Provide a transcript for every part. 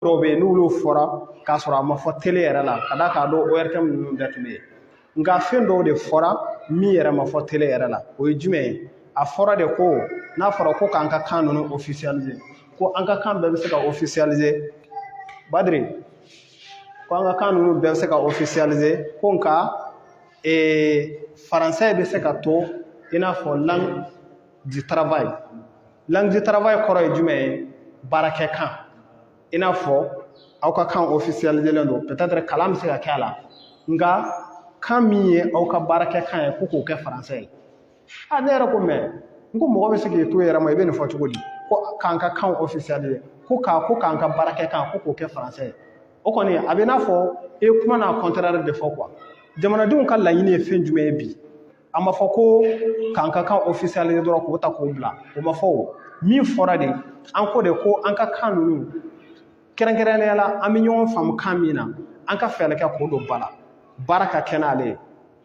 dɔw bɛ yen n'olu fɔra k'a sɔrɔ a ma fɔ tele yɛrɛ la ka d'a kan a don ORTM ninnu bɛɛ tun bɛ yen nka fɛn dɔw de fɔra min yɛrɛ ma fɔ tele yɛrɛ la o ye jumɛn ye a fɔra de ko n'a fɔra ko k'an ka kan ninnu ofisiyalize ko an ka kan bɛɛ bɛ se ka ofisiyalize badiri ko an ka kan ninnu bɛɛ bɛ se ka ofisiyalize ko nka ee faransɛ bɛ se ka to i n'a fɔ langue du travail langue du travail kɔrɔ ye jumɛn ye baarakɛ kan i n'a fɔ aw ka kan ofisiyalizelen don peut-être kalan bɛ se ka kɛ a la nka kan min ye aw ka baarakɛ kan ye ko k'o kɛ faransɛ ye a ne yɛrɛ ko mais n ko mɔgɔ bɛ se k'i to i yɛrɛ ma i bɛ nin fɔ cogo di ko k'an ka kan ofisiyalize ko k'a ko k'an ka baarakɛ kan ko k'o kɛ faransɛ ye o kɔni a bɛ i n'a fɔ i ye kuma n'a contraire de fɔ quoi jamanadenw ka laɲini ye fɛn jumɛn ye bi a ma fɔ ko k'an ka kan ofisiyalize dɔrɔn k'o ta k'o bila o ma fɔ o min fɔra de an ko de ko an ka kan ninnu kɛrɛnkɛrɛnnenya la an bɛ ɲɔgɔn faamu kan min na an ka fɛɛrɛ kɛ k'o don ba la baara ka kɛ n'ale ye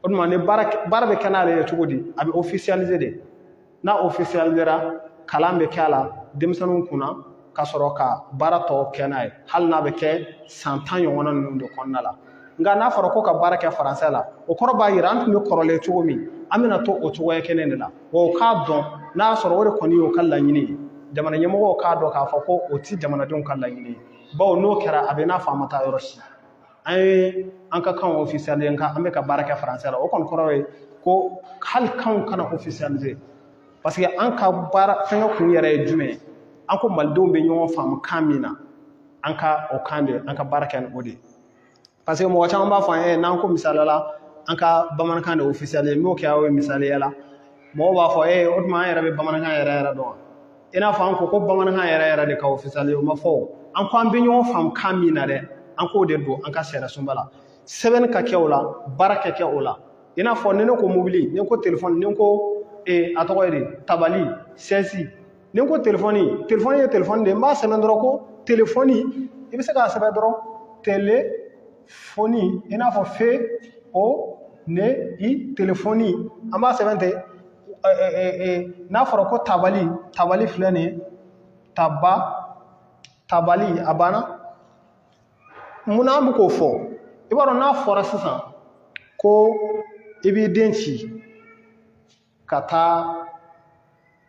o tuma ni baara bɛ kɛ n'ale ye cogo di a bɛ ofisiyalize de n'a ofisiyalizera kalan bɛ kɛ a la denmisɛnninw kunna ka sɔrɔ ka baara tɔ kɛ n'a ye hali n'a bɛ kɛ san tan ɲɔgɔnna ninnu de kɔnɔna la nka n'a fɔra ko ka baara kɛ faransɛ la o kɔrɔ b'a jira an tun bɛ kɔrɔlen cogo min an bɛna to o cogoya kelen de la wa o k'a dɔn n'a y'a sɔrɔ o de kɔni y'u ka laɲini ye jamana ɲɛmɔgɔw k'a dɔn k'a fɔ ko o tɛ jamanadenw ka laɲini ye bawo n'o kɛra a bɛ n'a fɔ an ma taa yɔrɔ si an ye an ka kanw ofisiyalize nka an bɛ ka baara kɛ faransɛ la o kɔni kɔrɔ ye ko hali kanw kana ofisiyalize parce que an ka baara fɛngɛ kun yɛrɛ ye jumɛn ye an ko malidenw bɛ ɲɔgɔn faamu kan min na an ka o kan de an ka baara kɛ ni o de ye parce que mɔgɔ caman b'a fɔ an ye n'an ko misaliya la an ka bamanankan de ofisiyalize n'o kɛra o ye misaliya la mɔgɔw b'a fɔ ee o tuma an yɛrɛ bɛ bamanankan yɛrɛ yɛrɛ dɔn wa i n'a fɔ an ko ko bamanankan yɛrɛ yɛrɛ de ka ofisiyalize o ma fɔ o an ko an bɛ ɲɔgɔn faamu kan min na dɛ an k'o de don an ka sariyasunba la sɛbɛnni ka kɛ o la baara ka kɛ o la i n'a fɔ ni ne ko mobili ni n ko telefɔni ni n ko a tɔgɔ ye di tabali sɛsi ni n ko telefɔni telefɔni ye telefɔni de ye n b'a sɛbɛn dɔrɔn ko telefɔni i bɛ se k'a sɛbɛn dɔrɔn telefɔni i n'a fɔ fe o ne i telefɔni an b'a sɛbɛn ten n'a fɔra ko tabali tabali filɛ nin ye taba tabali a banna munna an bɛ k'o fɔ i b'a dɔn n'a fɔra sisan ko i b'i den ci ka taa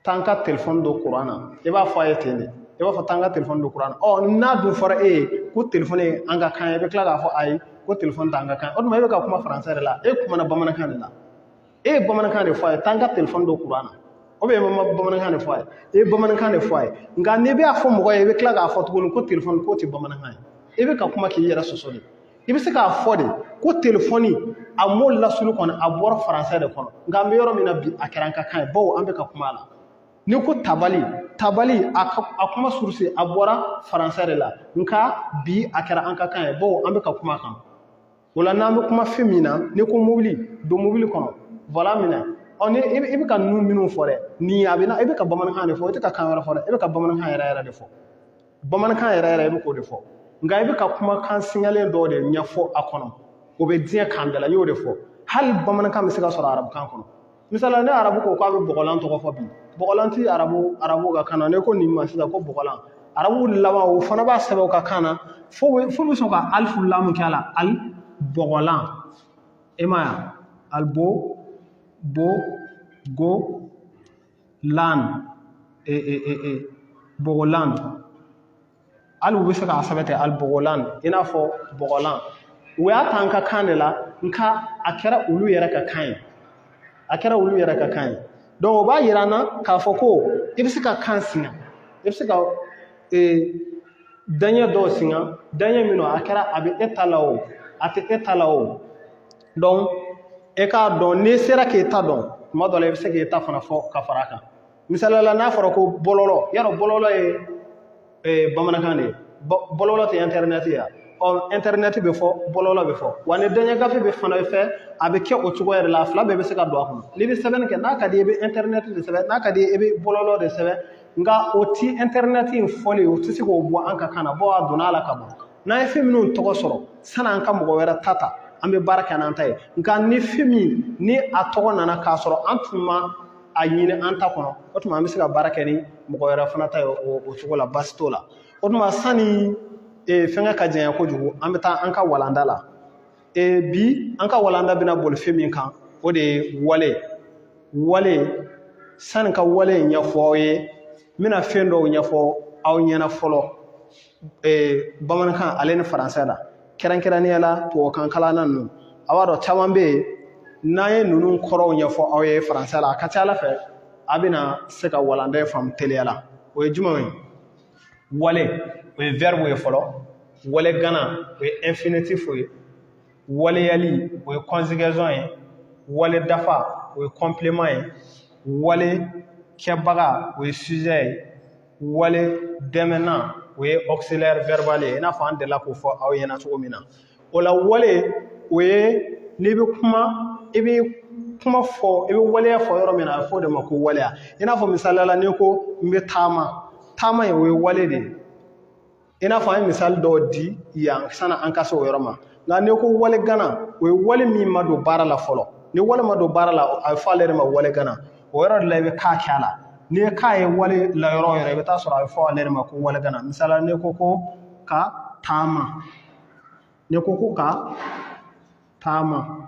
taa n ka telefɔni don kuran na i b'a fɔ a ye ten de i b'a fɔ taa n ka telefɔni don kuran na ɔ n'a dun fɔra e ye ko telefɔni ye an ka kan ye i bɛ tila k'a fɔ ayi ko telefɔni t'an ka kan o tuma e bɛ ka kuma faransɛ de la e kumana bamanankan de la e ye bamanankan de fɔ a ye taa n ka telefɔni don kuran na o bɛ ma bamanankan de fɔ a ye e ye bamanankan de fɔ a ye nka n'i bɛ a fɔ mɔgɔ ye i bɛ tila k'a fɔ tuguni ko telefɔni k'o tɛ bamanankan ye i bɛ ka kuma k'i yɛrɛ sɔsɔ de i bɛ se k'a fɔ de ko telefɔni a mot lasulu kɔni a bɔra faransɛ de kɔnɔ nka an bɛ yɔrɔ min na bi a kɛra an ka kan ye bawo an bɛ ka kuma a la n'i ko tabali tabali a kuma source a bɔra faransɛ de la nka bi a kɛra an ka kan ye bawo an bɛ ka kuma a kan o la n'an bɛ kuma fɛn min na n'i ko mobili don mobili kɔnɔ volant minɛ ɔ ni i bɛ ka ninnu minnu fɔ dɛ nin a bɛ na i bɛ ka bamanankan de fɔ i tɛ ka kan wɛrɛ fɔ dɛ i bɛ ka bamanankan yɛrɛ yɛrɛ de fɔ bamanankan yɛrɛ yɛrɛ i bɛ k'o de fɔ nka i bɛ ka kumakan singalen dɔw de ɲɛfɔ a kɔnɔ o bɛ diɲɛ kan bɛɛ la n y'o de fɔ hali bamanankan bɛ se ka sɔrɔ arabukan kɔnɔ misala ni arabu ko k'a bɛ bɔgɔlan tɔgɔ fɔ bi bɔgɔlan ti arabu arabu ka kan na n'i ko nin ma sisan ko bɔgɔlan arabu laban o fana b'a sɛbɛn u ka kan na fo bɛ fo bɛ sɔn ka alifu lamu kɛ a la al bɔgɔlan e m'a ye al bo bo go lan e e e e bɔgɔlan hali u bɛ se k'a sɛbɛn ten al bɔgɔlan i n'a fɔ bɔgɔlan u y'a ta an ka kan de la nka a kɛra olu yɛrɛ ka kan ye a kɛra olu yɛrɛ ka kan ye donc o b'a yira an na k'a fɔ ko i bɛ se ka kan singa i bɛ se ka ee daɲɛ dɔw singa daɲɛ min don a kɛra a bɛ e ta la o a tɛ e ta la o donc e k'a dɔn n'i sera k'e ta dɔn tuma dɔ la i bɛ se k'e ta fana fɔ ka fara a kan misali la n'a fɔra ko bɔlɔlɔ yarɔ bɔlɔlɔ ye eh, bamanankan de ye bɔlɔlɔ tɛ internet ye ɔ internet bɛ fɔ bɔlɔlɔ bɛ fɔ wa ni daɲɛgafe bɛ fana fɛ a bɛ kɛ o cogoya de la a fila bɛɛ bɛ se ka don a kɔnɔ n'i bɛ sɛbɛnni kɛ n'a ka di i bɛ internet de sɛbɛn n'a ka di i bɛ bɔlɔlɔ de sɛbɛn nka o ti internet in fɔli o tɛ se k'o bɔ an ka kan na bawo a donna a la ka ban n'an ye fɛn minnu tɔgɔ sɔrɔ san'an ka mɔgɔ wɛrɛ ta ta an bɛ baara kɛ n'an ta ye nka ni fɛn min ni a tɔgɔ nana k'a sɔrɔ an tun ma a ɲini an ta kɔnɔ o tuma an bɛ se ka baara kɛ ni mɔgɔ wɛrɛ fana ta ye o cogo la baasi t'o la o tuma sanni eh, fɛngɛ ka janya kojugu an bɛ taa an ka walanda la eh, bi an ka walanda bɛna boli fɛn min kan o de ye wale wale sanni ka wale ɲɛfɔ aw ye n bɛna fɛn dɔw ɲɛfɔ aw ɲɛna fɔlɔ eh, bamanankan ale ni faransɛ la kɛrɛnkɛrɛnnenya la tubabukan kalanna ninnu a b'a dɔn caman bɛ yen n'an ye ninnu kɔrɔw ɲɛfɔ aw ye faransɛ la a ka ca a la fɛ a bɛna se ka walanda in faamu teliya la o ye jumɛnw ye wale o ye verbe ye fɔlɔ wale gana o ye infinitif ye waleyali o ye conjugaison ye wale dafa o ye complément ye wale kɛbaga o ye sujet ye wale dɛmɛnan o ye auxiliaire verbal ye i n'a fɔ an delila k'o fɔ aw ɲɛna cogo min na o la wale o ye n'i bɛ kuma i bɛ kuma fɔ i bɛ waleya fɔ yɔrɔ min na a bɛ fɔ o de ma ko waleya i n'a fɔ misaliya la n'i ko n bɛ taama taama ye o ye wale de ye i n'a fɔ an ye misali dɔw di yan sani an ka se o yɔrɔ ma nka n'i ko wale gana o ye wale min ma don baara la fɔlɔ ni wale ma don baara la a bɛ fɔ ale de ma wale gana o yɔrɔ de la i bɛ ka kɛ a la n'i ye ka ye wale la yɔrɔ o yɔrɔ i bɛ taa sɔrɔ a bɛ fɔ ale de ma ko wale gana misali la n'i ko ko ka taama n'i ko ko ka taama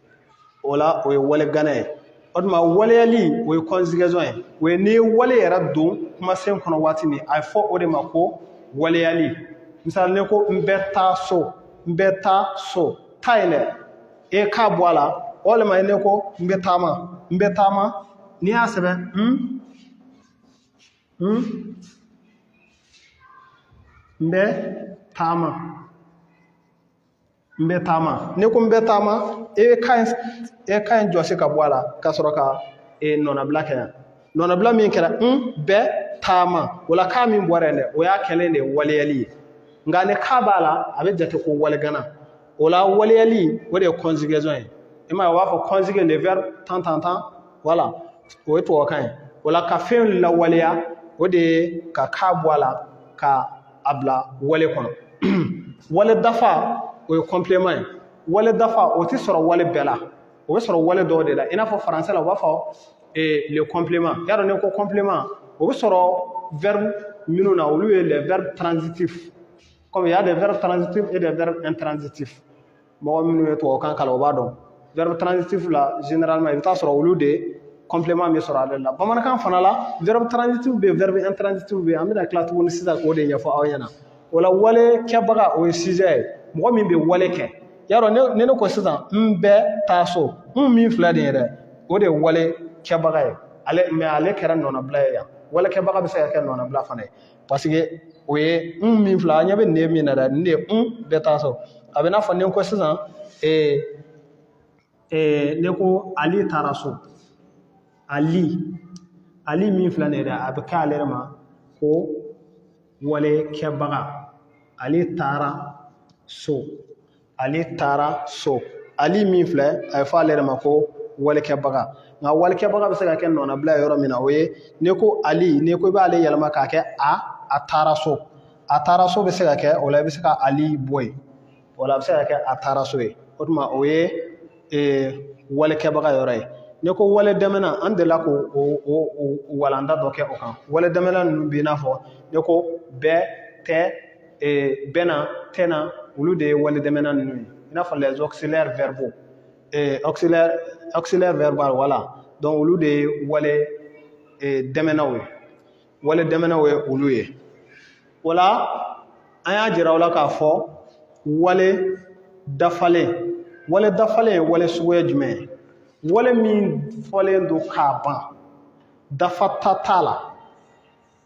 o la o ye wale gana ye o tuma waleyali o ye conjugaison ye o ye n'i ye wale yɛrɛ don kumasen kɔnɔ waati min a ye fɔ o de ma ko waleyali misali n'i ko n bɛ taa so n bɛ taa so taa in dɛ e k'a bɔ a la walima ye n'i ko n bɛ taama n bɛ taama n'i y'a sɛbɛn n n n bɛ taama n bɛ taama n'i ko n bɛ taama e bɛ ka in e ka in jɔsi ka bɔ a la ka sɔrɔ ka nɔnabila kɛ yan nɔnabila min kɛra n bɛ taama o la ka min bɔra yen dɛ o y'a kɛlen de ye waleyali ye nka ni ka b'a la a bɛ jate ko wale gana o la waleyali o de ye conjugaison ye i m'a ye u b'a fɔ conjuguer le verbe tan tan tan voilà o ye tubabukan ye o la ka fɛn lawaleya o de ye ka ka bɔ a la ka a bila wale kɔnɔ wale dafa o ye complément ye wale dafa o tɛ sɔrɔ wale bɛɛ la o bɛ sɔrɔ wale dɔw de la i n'a fɔ faransɛ la u b'a fɔ eh, le complément y'a dɔn n'i ko complément o bɛ sɔrɔ verbe minnu na olu ye les verbes transitifs comme il y a des verbes transitifs et des verbes intransitifs mɔgɔ minnu ye tubabukan kalan o b'a dɔn verbe transitif la généralement i bɛ taa sɔrɔ olu de complément bɛ sɔrɔ ale la bamanankan fana la verbe transitif bɛ yen verbe intransitif bɛ yen an bɛna tila tuguni sisan k'o de ɲɛfɔ aw ɲɛna o la wale kɛbaga o ye sujet ye mɔgɔ min bɛ wale kɛ y'a dɔn ni ni n'i ko sisan n bɛ taa so n min filɛ nin ye dɛ o de ye wale kɛbaga ye mais ale kɛra nɔnabila ye yan wale kɛbaga bɛ se ka kɛ nɔnabila fana ye parce que o ye n min filɛ an ɲɛ bɛ nin min na dɛ nin de ye n bɛ taa so a bɛ n'a fɔ ni n ko sisan ee ee n'i ko ali taara so ali ali min filɛ nin ye dɛ a bɛ kɛ ale de ma ko wale kɛbaga ali taara so ali taara so ali min filɛ a ye fɔ ale de ma ko wale kɛbaga nka wale kɛbaga bɛ se ka kɛ nɔnabila yɔrɔ min na o ye n'i ko ali n'i ko i b'ale yɛlɛma k'a kɛ a a taara so a taara so bɛ se ka kɛ o la i bɛ se ka ali bɔ yen o la a bɛ se ka kɛ a taara so ye o tuma o ye walekɛbaga yɔrɔ ye n'i ko wale dɛmɛna an delila k'o walanda dɔ kɛ o kan wale dɛmɛna ninnu bɛ i n'a fɔ n'i ko bɛ tɛ bɛna tɛna olu de ye wale dɛmɛna ninnu ye i n'a fɔ les auxiliaires verbaux auxiliaire verbal voilà donc olu de ye wale dɛmɛnaw ye wale dɛmɛnaw ye olu ye voilà an y'a jira aw la k'a fɔ wale dafalen wale dafalen ye wale suguya jumɛn ye wale min fɔlen don k'a ban dafata t'a la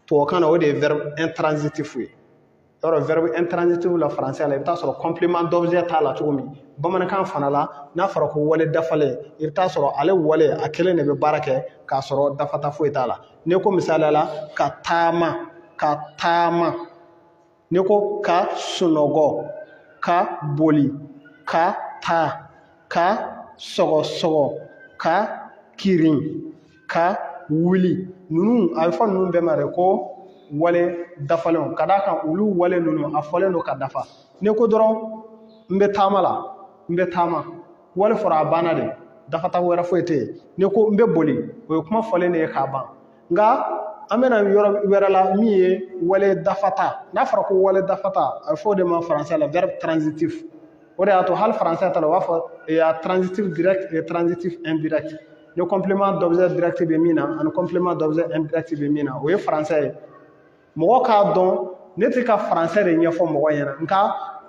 tubabukan na o de ye verbe intransitif ye yɔrɔ verbe intransitif la français la i bɛ t'a sɔrɔ complément d'objet t'a la cogo min bamanankan fana la n'a fɔra ko wale dafalen i bɛ t'a sɔrɔ ale wale a kelen de bɛ baara kɛ k'a sɔrɔ dafata foyi t'a la n'i ko misaliya la ka taama ka taama n'i ko ka sunɔgɔ ka boli ka taa ka sɔgɔsɔgɔ ka kirin ka wuli ninnu a bɛ fɔ ninnu bɛɛ ma de ko wale dafalenw ka d'a kan olu wale ninnu a fɔlen don ka dafa n'i ko dɔrɔn n bɛ taama la n bɛ taama wale fɔra a banna de dafata wɛrɛ foyi tɛ yen n'i ko n bɛ boli o ye kuma fɔlen de ye k'a ban nka an bɛna yɔrɔ wɛrɛ la min ye wale dafata n'a fɔra ko wale dafata a bɛ fɔ o de ma faransɛ la verbe transitif o de y'a to hali faransɛ ta la u b'a fɔ transitif direct et transitif indirect ni complément d'objet direct bɛ min na ani complément d'objet indirect bɛ min na o ye faransɛ ye mɔgɔw k'a dɔn ne tɛ ka faransɛ de ɲɛfɔ mɔgɔ ɲɛna nka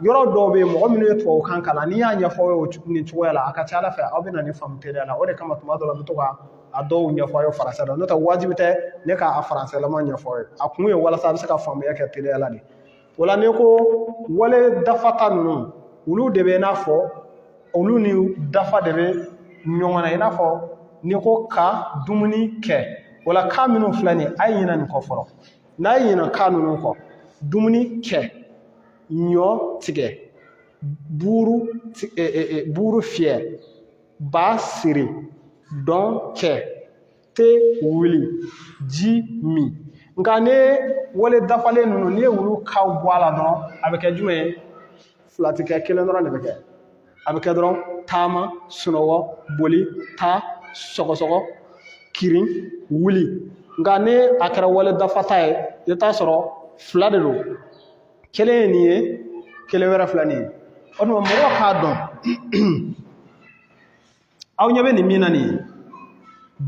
yɔrɔ dɔw bɛ yen mɔgɔ minnu ye tubabukan kalan n'i y'a ɲɛfɔ aw ye nin cogoya la a ka ca ala fɛ aw bɛna nin faamu teliya la o de kama tuma dɔ la n bɛ to ka a dɔw ɲɛfɔ aw ye faransɛ la n'o tɛ wajibi tɛ ne k'a faransɛlama ɲɛfɔ aw ye a kun ye walasa a bɛ se ka faamuya kɛ teliya la de o la n'i ko wale dafata ninnu olu de bɛ i n'a fɔ olu ni dafa de bɛ ɲɔgɔn na i n'a fɔ n'i ko ka dumuni kɛ o la ka minnu filɛ nin ye a ye ɲinɛ nin kɔ fɔlɔ n'a ye ɲinɛ ka ninnu kɔ dumuni kɛ ɲɔ tigɛ buru e, e, e, buru fiyɛ ba siri dɔn kɛ te wuli ji min nka ni wale dafalen ninnu n'i ye olu kaw bɔ a la dɔrɔn a bɛ kɛ jumɛn ye fila tɛ kɛ kelen dɔrɔn de bɛ kɛ a bɛ kɛ dɔrɔn taama sunɔgɔ boli taa sɔgɔsɔgɔ kirin wuli nka ni a kɛra wale dafata ye i bɛ t'a sɔrɔ fila de don kelen ye nin ye kelen wɛrɛ filɛ nin ye o tuma mɔgɔw k'a dɔn aw ɲɛ bɛ nin min na nin ye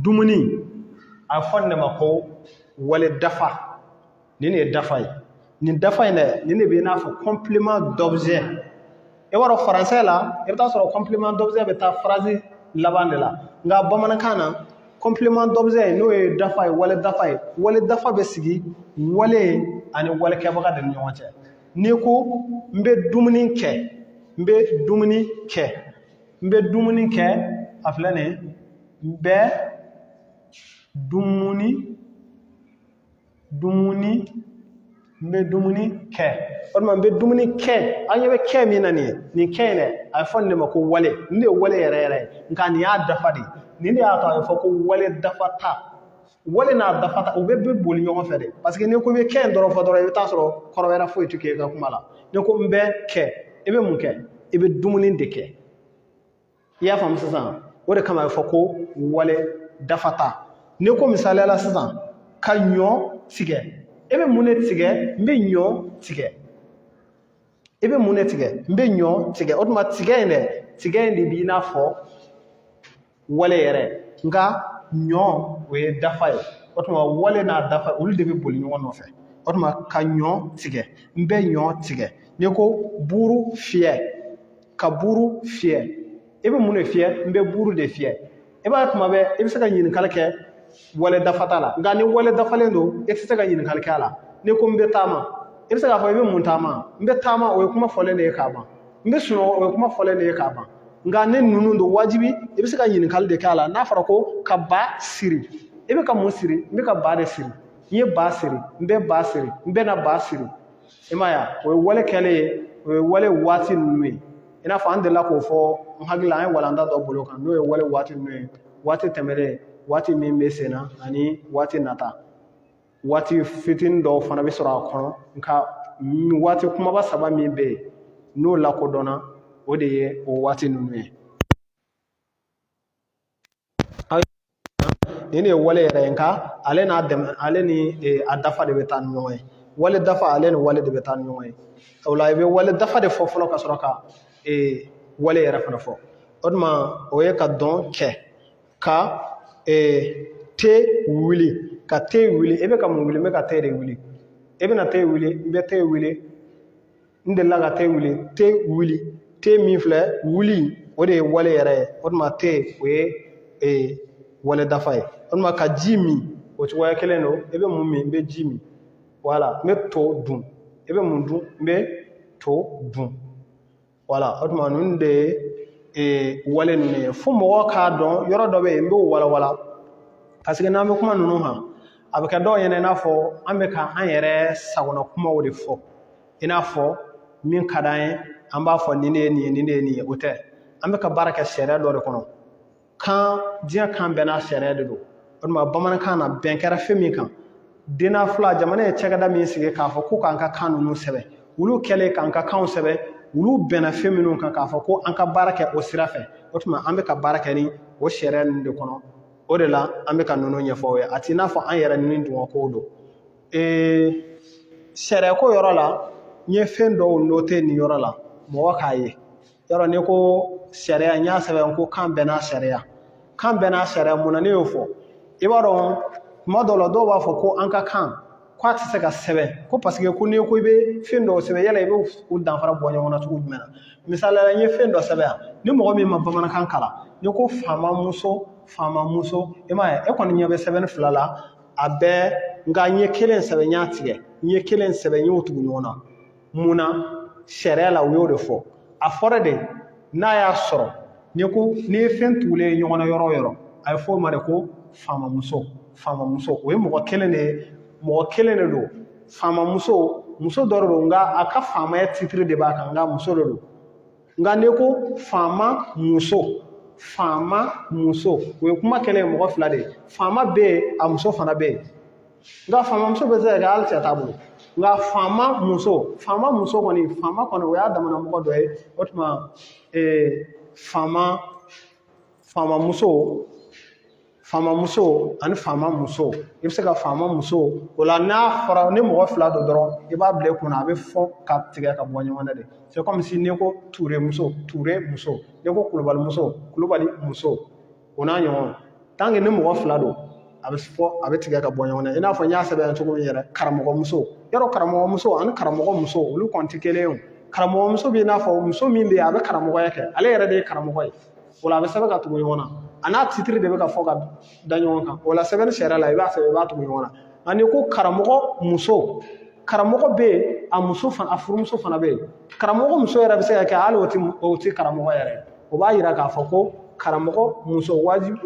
dumuni a bɛ fɔ nin de ma ko wale dafa nin de ye dafa ye nin dafa in dɛ nin de bɛ i n'a fɔ complément d'objet i b'a dɔn français la i bɛ taa sɔrɔ complément d'objet bɛ taa phrase laban de la nka bamanankan na complément d'objet n'o ye dafa ye wale dafa ye wale dafa bɛ sigi wale ani wale kɛbaga de ni ɲɔgɔn cɛ n'i ko n bɛ dumuni kɛ n bɛ dumuni kɛ n bɛ dumuni kɛ a filɛ nin ye n bɛ dumuni dumuni n bɛ dumuni kɛ o tuma n bɛ dumuni kɛ an ɲɛ bɛ kɛ min na nin ye nin kɛ in dɛ a bɛ fɔ nin de ma ko wale nin de ye wale yɛrɛ yɛrɛ ye nka nin y'a dafa de ye nin de y'a to a bɛ fɔ ko wale dafata wale n'a dafata u bɛ bɛ boli ɲɔgɔn fɛ dɛ parce que n'i ko i bɛ kɛ in dɔrɔn fɔ dɔrɔn i bɛ taa sɔrɔ kɔrɔ wɛrɛ foyi tɛ kɛ i ka kuma la n'i ko n bɛ kɛ i bɛ mun kɛ i bɛ dumuni de kɛ i y'a faamu sisan o de kama a bɛ fɔ ko wale dafata n'i ko misaliya la sisan ka ɲɔ tigɛ i bɛ mun de tigɛ n bɛ ɲɔ tigɛ i bɛ mun de tigɛ n bɛ ɲɔ tigɛ o tuma tigɛ in dɛ tigɛ in de b'i n'a fɔ wale yɛrɛ nka ɲɔ o ye dafa ye o tuma wale n'a dafa olu de bɛ boli ɲɔgɔn nɔfɛ o tuma ka ɲɔ tigɛ n bɛ ɲɔ tigɛ n'i ko buuru fiyɛ ka buuru fiyɛ i bɛ mun de fiyɛ n bɛ buuru de fiyɛ i b'a ye tuma bɛɛ i bɛ se ka ɲininkali kɛ wale dafata la nka ni wale dafalen don i tɛ se ka ɲininkali kɛ a la n'i ko n bɛ taama i bɛ se k'a fɔ i bɛ mun taama n bɛ taama o ye kuma fɔlen de ye k'a ban n bɛ sunɔgɔ o ye kuma fɔlen de ye k'a ban nka ni ninnu don wajibi i bɛ se ka ɲininkali de kɛ a la n'a fɔra ko ka ba siri i bɛ ka mun siri n bɛ ka ba de siri n ye ba siri n bɛ ba siri n bɛna ba siri i m'a ye o ye wale kɛlen ye o ye wale waati ninnu ye i n'a fɔ an delila k'o fɔ n hakili la an ye walanda dɔ boli o kan n'o ye wale waati ninnu ye waati tɛmɛlen waati min bɛ sen na ani waati nata waati fitinin dɔw fana bɛ sɔrɔ a kɔnɔ nka waati kumaba saba min bɛ yen n'o lakodɔnna o de ye o waati ninnu ye nin de ye wale yɛrɛ ye nka ale n'a dɛmɛ ale ni eh, a dafa de bɛ taa ni ɲɔgɔn ye wale dafa ale ni wale de bɛ taa ni ɲɔgɔn ye o la i bɛ wale dafa de fɔ fɔlɔ ka sɔrɔ ka ee wale yɛrɛ fana fɔ o tuma o ye ka dɔn kɛ ka ee te wuli ka te wuli i bɛ ka mun wuli n bɛ ka te de wuli i bɛna te wuli n bɛ te wuli n delila ka te wuli te wuli te min filɛ wuli o de ye wale yɛrɛ ye o tuma te o ye ee wale dafa ye o tuma ka ji min o cogoya kelen don i bɛ mun min n bɛ ji min wala n bɛ to dun i bɛ mun dun n bɛ to dun wala o tuma ninnu de ye ee, wale ninnu ye fo mɔgɔ k'a dɔn yɔrɔ dɔ bɛ yen n b'o walawala parce que n'an bɛ kuma ninnu kan a bɛ kɛ dɔw ɲɛna i n'a fɔ an bɛ ka an yɛrɛ sagona kumaw de fɔ i n'a fɔ min ka d'an ye an b'a fɔ nin de ye nin ye nin de ye nin ye o tɛ an bɛ ka baara kɛ sariya dɔ de kɔnɔ kan diɲɛ kan bɛɛ n'a sariya de don o tuma bamanankan na bɛn kɛra fɛn min kan DNAFLA jamana ye cakɛda min sigi k'a fɔ ko k'an ka kan ninnu sɛbɛn olu kɛlen k'an ka kanw sɛbɛn olu bɛnna fɛn minnu kan k'a fɔ ko an ka baara kɛ o sira fɛ o tuma an bɛ ka baara kɛ ni o sariya ninnu de kɔnɔ o de la an bɛ ka ninnu ɲɛfɔ aw ye a t'i n'a fɔ an yɛrɛ nidungɔkow don ee sariya ko yɔrɔ la n ye fɛn dɔw note nin yɔrɔ la mɔgɔ k'a ye yɔrɔ n'i ko sariya n y'a sɛbɛn ko kan bɛɛ n'a sariya kan bɛɛ n'a sariya mun na ne y'o fɔ i b'a dɔn tuma dɔw la dɔw b'a fɔ ko an ka kan ko a tɛ se ka sɛbɛn ko parce que ko n'i ko i bɛ fɛn dɔw sɛbɛn yala i bɛ u danfara bɔ ɲɔgɔn na cogo jumɛn na misali la n ye fɛn dɔ sɛbɛn yan ni mɔgɔ min ma bamanankan kalan n'i ko faama muso faama muso i m'a ye e kɔni ɲɛ bɛ sɛbɛnni fila la a bɛɛ nka n ye kelen sɛbɛn n y'a tigɛ n ye kelen sɛbɛn n y'o tugu ɲɔgɔn na mun na sariya la u y'o de fɔ a fɔra de n'a y'a sɔrɔ n'i ko n'i ye fɛn tugulen ye ɲɔgɔn na yɔrɔ o yɔrɔ a ye fɔ o ma de ko faamamuso faamamuso o ye mɔgɔ kelen de ye mɔgɔ kelen de don faamamuso muso dɔ de don nka a ka faamaya titiri de b'a kan nka muso de don nka n'i ko faama muso faama muso o ye kuma kɛlen ye mɔgɔ fila de ye faama bɛ yen a muso fana bɛ yen nka faamamuso bɛ se ka kɛ hali cɛ t'a bolo nka faama muso faama muso kɔni faama kɔni o y'a damana mɔgɔ dɔ ye o tuma faama faama muso faama muso ani faama muso i bɛ se ka faama muso o la n'a fɔra ni mɔgɔ fila don dɔrɔn i b'a bila i kunna a bɛ fɔ ka tigɛ ka bɔ ɲɔgɔn na de c'est comme si n'i ko ture muso ture muso n'i ko kulubali muso kulubali muso o n'a ɲɔgɔn tant que ni mɔgɔ fila don a bɛ fɔ a bɛ tigɛ ka bɔ ɲɔgɔn na i n'a fɔ n y'a sɛbɛn cogo min yɛrɛ karamɔgɔmuso yɔrɔ karamɔgɔmuso ani karamɔgɔ muso olu kɔni tɛ kelen ye karamɔgɔmuso bɛ i n'a fɔ muso min bɛ yen a bɛ karamɔgɔya kɛ ale yɛrɛ de ye karamɔgɔ ye o la a bɛ sɛbɛn ka tugu ɲɔgɔn na a n'a titiri de bɛ ka fɔ ka da ɲɔgɔn kan o la sɛbɛnni sariya la i b'a sɛbɛn i b'a tugu ɲɔgɔn na a n'i ko karamɔgɔ muso karamɔgɔ bɛ yen a muso fana a furumuso fana bɛ yen karamɔgɔ muso yɛrɛ bɛ se ka kɛ hali o tɛ o tɛ karamɔgɔ yɛrɛ ye o b'a yira k'a fɔ ko karamɔgɔ muso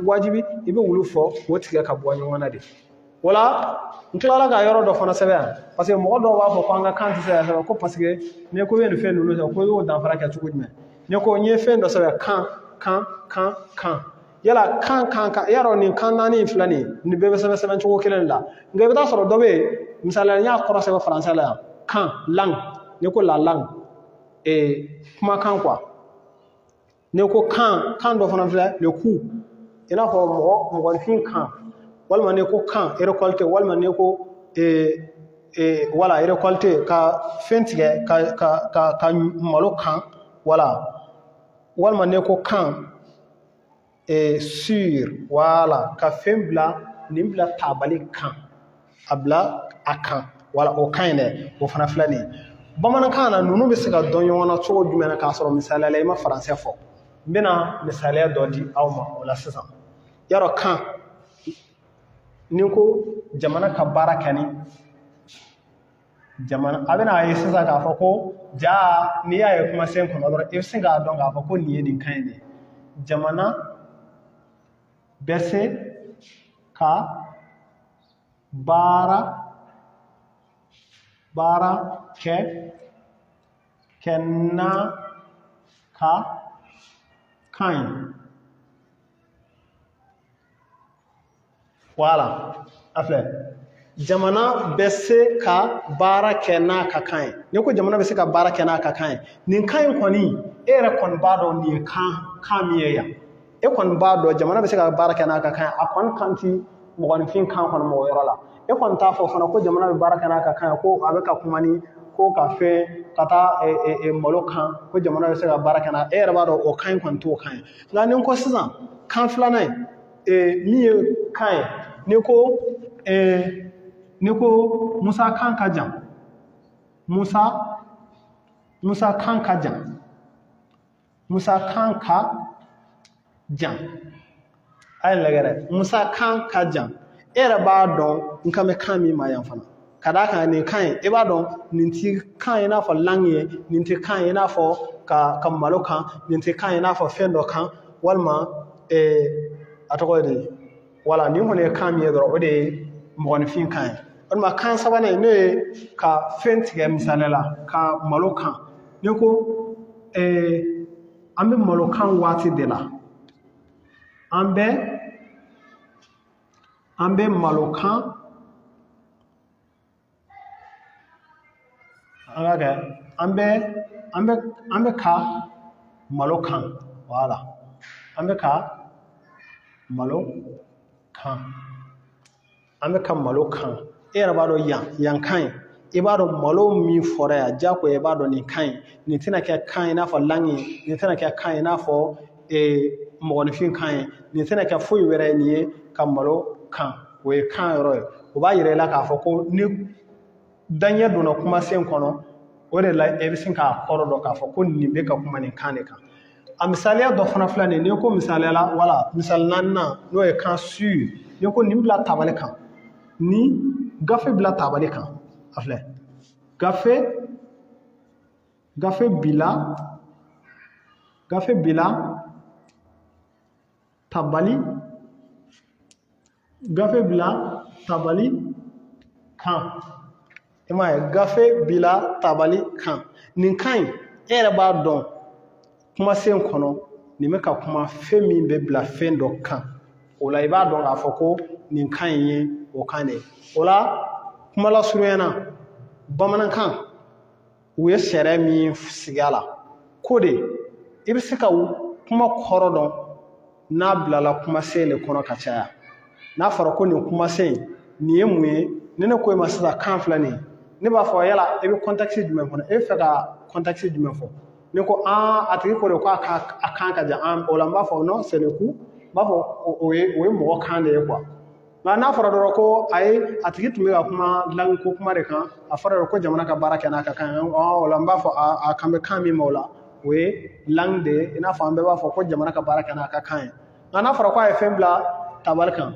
wajibi i bɛ olu fɔ k'o tigɛ ka bɔ ɲɔgɔn na de o la n tilala ka yɔrɔ dɔ fana sɛbɛn yan paseke mɔgɔ dɔw b'a fɔ ko an ka kan tɛ se ka sɛbɛn ko paseke n'i ko i bɛ nin fɛn ninnu sɛbɛn ko i y'o danfara kɛ cogo jumɛn n'i ko n ye fɛn dɔ sɛbɛn kan kan kan kan yala kan kan kan y'a dɔn nin kan naani in filɛ nin ye nin bɛɛ bɛ sɛbɛn sɛbɛn cogo kelen de la nka i bɛ taa sɔrɔ dɔ bɛ yen misaliya n y'a kɔrɔ sɛbɛn faransɛ la yan kan langue n'i ko la langue ee kumakan quoi n'i ko kan kan dɔ fana filɛ le cou i n'a fɔ mɔgɔ mɔgɔnifin kan walima n'i ko kan récolter walima n'i ko ee ee wala récolter ka fɛn tigɛ ka ka ka ka malo kan wala walima n'i ko kan est sur voilà ka fɛn bila nin bila tabali kan a bila a kan wala o kan in dɛ o fana filɛ nin ye bamanankan na ninnu bɛ se ka dɔn ɲɔgɔn na cogo jumɛn na k'a sɔrɔ misaliya la i ma faransɛ fɔ n bɛna misaliya dɔ di aw ma o la sisan y'a dɔn kan n'i ko jamana ka baara kɛ ni jamana a bɛna a ye sisan k'a fɔ ko jaa n'i y'a ye kumasen kɔnɔ dɔrɔn i bɛ sin k'a dɔn k'a fɔ ko nin ye nin kan in de jamana bɛ se ka baara baara kɛ kɛ n'a ka kan ye wala a filɛ jamana bɛ se ka baara kɛ n'a ka kan ye n'i ko jamana bɛ se ka baara kɛ n'a ka kan ye nin kan in kɔni e yɛrɛ kɔni b'a dɔn nin ye kan kan min ye yan e kɔni b'a dɔn jamana bɛ se ka baara kɛ n'a ka kan ye a kɔni kan ti mɔgɔninfin kan kɔni ma o yɔrɔ la e kɔni t'a fɔ fana ko jamana bɛ baara kɛ n'a ka kan ye ko a bɛ ka kuma ni ko ka fɛn ka taa malo kan ko jamana bɛ se ka baara kɛ n'a e yɛrɛ b'a dɔn o kan in kɔni t'o kan ye nka n'i ko sisan kan filanan ye ee, min ye kan ye n'i ko ee, n'i ko musa kan ka jan musa musa kan ka jan musa kan ka jan a ye lagɛ dɛ musa kan ka jan e yɛrɛ b'a dɔn n kan bɛ kan min ma yan fana ka d'a kan nin kan in i b'a dɔn nin ti kan ye i n'a fɔ langue ye nin ti kan ye i n'a fɔ ka ka malo kan nin ti kan ye i n'a fɔ fɛn dɔ kan walima ee a tɔgɔ ye di wala nin kɔni ye kan min ye dɔrɔn o de ye mɔgɔninfin kan ye walima kan sabanan in n'o ye ka fɛn tigɛ misaliya la ka malo kan n'i ko ee an bɛ malo kan waati de la an bɛ an bɛ malo kan an ka kɛ an bɛ an bɛ an bɛ ka malo kan voilà an bɛ ka malo kan an bɛ ka malo kan e yɛrɛ b'a dɔn yan yan kan ye i b'a dɔn malo min fɔra yan jagoya i b'a dɔn nin kan ye nin tɛna kɛ kan i n'a fɔ langue ye nin tɛna kɛ kan i n'a fɔ mɔgɔninfin kan ye nin tɛna kɛ foyi wɛrɛ ye nin ye ka malo kan o ye kan yɔrɔ ye o b'a yira i la k'a fɔ ko ni daɲɛ donna kumasen kɔnɔ o de la e bɛ se k'a kɔrɔ dɔn k'a fɔ ko nin bɛ ka kuma nin kan de kan a misaliya dɔ fana filɛ nin ye n'i ko misaliya la wala misali naaninan n'o ye kan sur n'i ko nin bila tabali kan ni gafe bila tabali kan a filɛ gafe gafe bila gafe bila tabali gafe bila tabali kan i m'a ye gafe bila tabali kan nin kan in e yɛrɛ b'a dɔn kumasen kɔnɔ nin bɛ ka kuma fɛn min bɛ bila fɛn dɔ kan o la i b'a dɔn k'a fɔ ko nin kan in ye o kan de ye o la kuma lasurunya na bamanankan u ye sariya min sigi a la ko de i bɛ se ka kuma kɔrɔ dɔn n'a bilala kumasen de kɔnɔ ka caya n'a fɔra ko nin kumasen nin ye mun ye ni ne ko e ma sisan kan filɛ nin ye ne b'a fɔ yala i bɛ contexte jumɛn kɔnɔ e bɛ fɛ ka contexte jumɛn fɔ ne ko an a tigi ko de ko a kan ka jan an o la n b'a fɔ non c'est le cou n b'a fɔ o ye o ye mɔgɔ kan de ye quoi nka n'a fɔra dɔrɔn ko ayi a tigi tun bɛ ka kuma langue ko kuma de kan a fɔra dɔrɔn ko jamana ka baara kɛ n'a ka kan ye o la n b'a fɔ a kan bɛ kan min ma o la o ye langue de ye i n'a fɔ an bɛɛ b'a fɔ ko jamana ka baara kɛ n'a ka kan ye nka n'a fɔra ko a ye fɛn bila tabali kan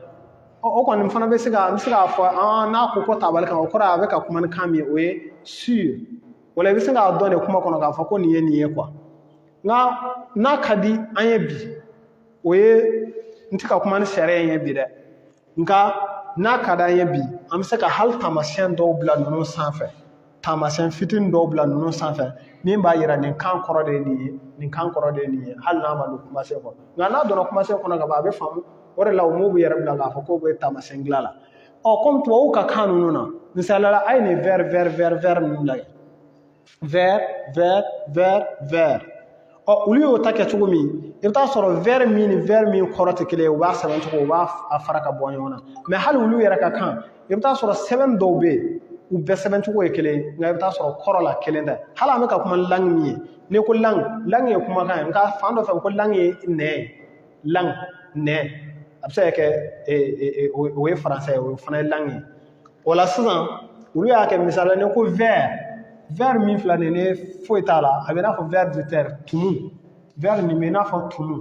o kɔni fana bɛ se ka n bɛ se k'a fɔ an n'a ko ko tabali kan o kɔrɔ a bɛ ka kuma ni kan min ye o ye sur o la i bɛ se k'a dɔn de kuma kɔnɔ k'a fɔ ko nin ye nin ye quoi nka n'a ka di an ye bi o ye n tɛ ka kuma ni sariya in ye bi dɛ nka n'a ka d'an ye bi an bɛ se ka hali taamasiyɛn dɔw bila ninnu sanfɛ taamasiyɛn fitinin dɔw bila ninnu sanfɛ min b'a yira nin kan kɔrɔ de ye nin ye nin kan kɔrɔ de ye nin ye hali n'a ma don kumasen kɔnɔ nka n'a donna kumasen kɔnɔ ka ban a bɛ faamu o de la u m'u yɛrɛ bila k'a fɔ k'u bɛ taamasiyɛn dilan la ɔ kɔmi tubabuw ka kan ninnu na misaliya la a ye nin wɛri wɛri wɛri wɛri ninnu lajɛ vɛr vɛr vɛr vɛr ɔ olu y'o ta kɛ cogo min i bɛ taa sɔrɔ vɛr min ni vɛr min kɔrɔ tɛ kelen ye u b'a sɛbɛn cogo u b'a a fara ka bɔ ɲɔgɔn na mɛ hali olu yɛrɛ ka kan i bɛ taa sɔrɔ sɛbɛnni dɔw bɛ yen u bɛɛ sɛbɛn cogo ye kelen ye nka i bɛ taa sɔrɔ kɔrɔ la kelen tɛ hali an bɛ ka kuma ni langi min ye n'i ko langi langi ye kumakan ye nka fan dɔ fɛ ko langi ye nɛn ye langi nɛn a bɛ se ka kɛ o ye faransɛ ye o fana ye langi ye o la sisan olu y'a kɛ misali la n'i ko vɛri vɛri min filɛ nin ye foyi t'a la a bɛ i n'a fɔ ver de terre tumu vɛri nin bɛ i n'a fɔ tumu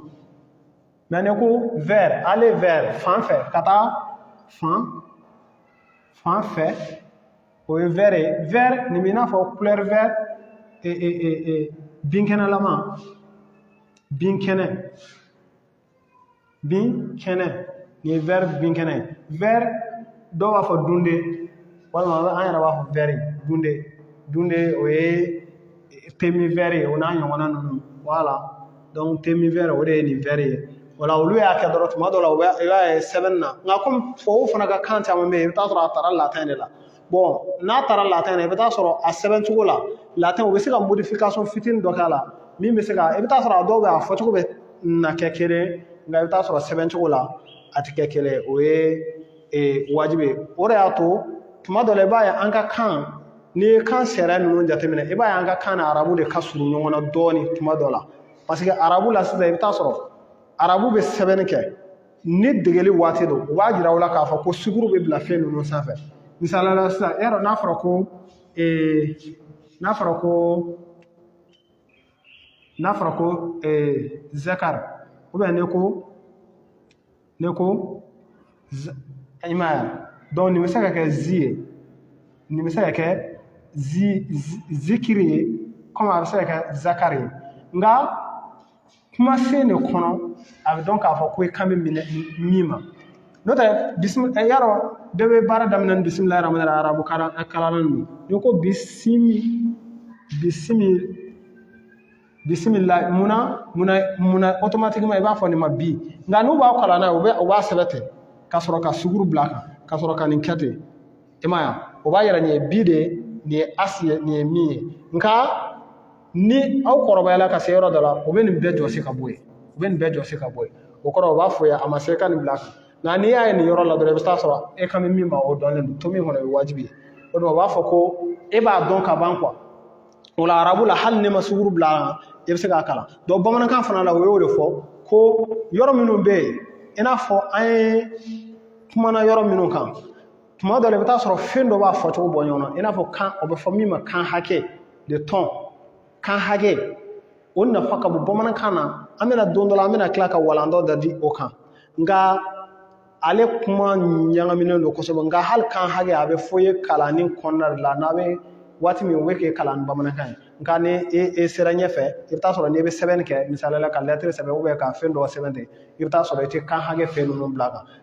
mɛ n'i ko vɛri ale vɛri fan fɛ ka taa fan fan fɛ o ye vɛri ye vɛri nin bɛ i n'a fɔ kulɛri vɛri binkɛnɛlama binkɛnɛ binkɛnɛ nin ye vɛri binkɛnɛ ye vɛri dɔw b'a fɔ dunde walima an yɛrɛ b'a fɔ vɛri dunde dunde o ye te min vɛri o n'a ɲɔgɔnna ninnu wala dɔnku te min vɛri o de ye nin vɛri ye wala olu y'a kɛ dɔrɔn tuma dɔw la u b'a i b'a ye sɛbɛnni na nka kɔmi tubabuw fana ka kan caman bɛ yen i bɛ t'a sɔrɔ a taara latin de la n'a taara latin na i bɛ t'a sɔrɔ a sɛbɛn cogo la latin u bɛ se ka modification fitinin dɔ k'a la min bɛ se ka i bɛ t'a sɔrɔ a dɔw bɛ a fɔcogo bɛ na kɛ kelen nka i bɛ t'a sɔrɔ sɛbɛn cogo la a tɛ kɛ kelen o ye wajibi ye o de y'a to tuma dɔ la i b'a ye an ka kan n'i ye kan sariya ninnu jateminɛ i b'a ye an ka kan n'arabu de ka surun ɲɔgɔn na dɔɔnin tuma dɔ la paseke arabu la sisan i bɛ t'a sɔrɔ arabu bɛ sɛbɛnni kɛ ni degeli waati don u b'a jira aw la k'a fɔ ko suguru bɛ bila fɛn ninnu sanfɛ misali la sisan yaro n'a fɔra ko ee n'a fɔra ko n'a fɔra ko ee zakari ubiyɛn ne ko ne ko i m'a ye dɔnku nin bɛ se ka kɛ zi ye nin bɛ se ka kɛ zi zikiri ye kɔmi a bɛ se ka kɛ zakari ye nka kumasen de kɔnɔ a bɛ dɔn k'a fɔ ko i kan bɛ min min ma n'o tɛ bisimila eh, yaro bɛɛ bɛ baara daminɛ ni bisimilahi rahmani rahim arabu eh, kalanna ninnu n'i ko bisimi bisimi bisimila munna munna munna automatiquement i b'a fɔ nin ma bi nka n'u b'a kalan n'a ye u bɛ u b'a sɛbɛn ten ka sɔrɔ ka suguru bila a kan ka sɔrɔ ka nin kɛ ten i m'a ye o b'a yira nin ye bi de nin ye asi ye nin ye min ye nka ni aw kɔrɔbayala ka se yɔrɔ dɔ la u bɛ nin bɛɛ jɔsi ka bɔ yen u bɛ nin bɛɛ jɔsi ka bɔ yen o kɔrɔ u b'a fɔ ya a ma se ka nin bila nka n'i y'a ye nin yɔrɔ la dɔrɔn i bɛ taa sɔrɔ e kan bɛ min ma o dɔnnen don to min kɔnɔ o ye wajibi ye o de u b'a fɔ ko e b'a dɔn ka ban kuwa o la arabu la hali n'i ma suguru bila a kan i bɛ se k'a kalan dɔnku bamanankan fana la o y'o de fɔ ko yɔrɔ minnu bɛ yen i n'a fɔ an ye kumana yɔrɔ minnu kan tuma dɔ la i bɛ taa sɔrɔ fɛn dɔ b'a fɔcogo bɔ ɲɔgɔn na i n'a fɔ kan o bɛ fɔ min ma kan hakɛ des tons kan hakɛ o nafa ka bon bamanankan na an bɛna don dɔ la an bɛna tila ka walanda dɔ di o kan nka ale kuma ɲagaminen don kosɛbɛ nka hali kan hakɛ a bɛ fɔ i ye kalanni kɔnɔna de la n'a bɛ waati min u bɛ k'e kalan ni bamanankan ye nka ni e e sera ɲɛfɛ i bɛ taa sɔrɔ n'i bɛ sɛbɛnni kɛ misali la ka lɛtiri sɛbɛn ka fɛn dɔ sɛbɛn ten i bɛ taa sɔrɔ i tɛ kan hakɛ fɛn ninnu bil'a kan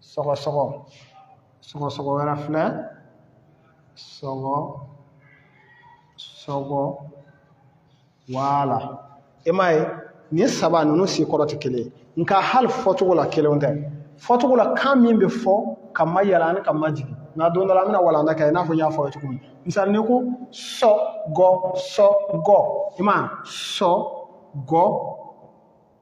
sɔgɔsɔgɔ sɔgɔsɔgɔ wɛrɛ filɛ sɔgɔ sɔgɔ voilà e m'a ye nin saba ninnu si kɔrɔ tɛ kelen ye nka hali fɔcogo la kelen tɛ fɔcogo la kan min bɛ fɔ kanmayɛlɛ ani kanmajigin nka don dɔ la an bɛna walanda kɛ i n'a fɔ n y'a fɔ aw ye cogo min misali ni n ko sɔ gɔ sɔ gɔ i ma sɔ gɔ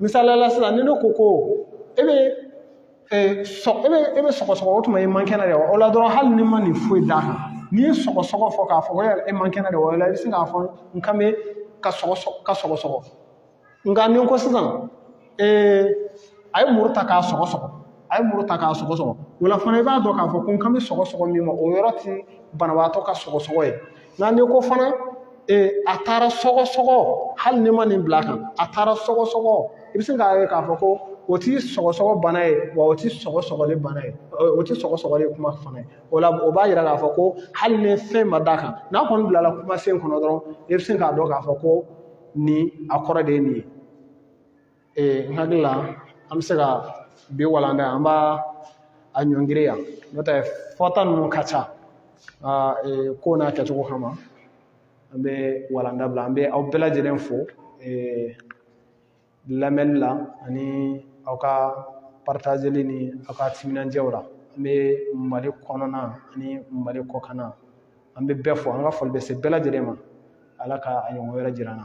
misali la sisan ni ne ko ko e bɛ e bɛ e bɛ sɔgɔsɔgɔ o tuma i man kɛnɛ de wa o la dɔrɔn hali n'i ma nin foyi d'a kan n'i ye sɔgɔsɔgɔ fɔ k'a fɔ ko yala e man kɛnɛ de wa o la i bɛ se k'a fɔ n kan bɛ ka sɔgɔsɔgɔ ka sɔgɔsɔgɔ nka ni n ko sisan ee a ye muru ta k'a sɔgɔsɔgɔ a ye muru ta k'a sɔgɔsɔgɔ o la fana i b'a dɔn k'a fɔ ko n kan bɛ sɔgɔsɔgɔ min ma o yɔrɔ tɛ banabaatɔ ka sɔgɔsɔgɔ ye nka n'i ko fana ee a taara sɔgɔsɔgɔ hali n'i ma nin bil'a kan a taara sɔgɔsɔgɔ i bɛ se k'a ye k'a fɔ ko o ti sɔgɔsɔgɔ bana ye wa o ti sɔgɔsɔgɔli bana ye o ti sɔgɔsɔgɔli kuma fana ye o la o b'a yira k'a fɔ ko hali ni fɛn ma d'a kan n'a kɔni bilala kumasen kɔnɔ dɔrɔn i bɛ se k'a dɔn k'a fɔ ko nin a kɔrɔ de ye nin ye ee n hakili la an bɛ se ka bi walanda an b'a a ɲɔngiri yan n'o tɛ fɔta ninnu ka ca ee ko n'a kɛcogo kama an bɛ walanda bila an bɛ aw bɛɛ lajɛlen fo ee lamɛnni la ani aw ka partageli ni aw ka timinandiyaw la an bɛ mali kɔnɔna ani mali kɔkanna an bɛ bɛɛ fo an ka foli bɛ se bɛɛ lajɛlen ma ala ka a ɲɔgɔn wɛrɛ jira an na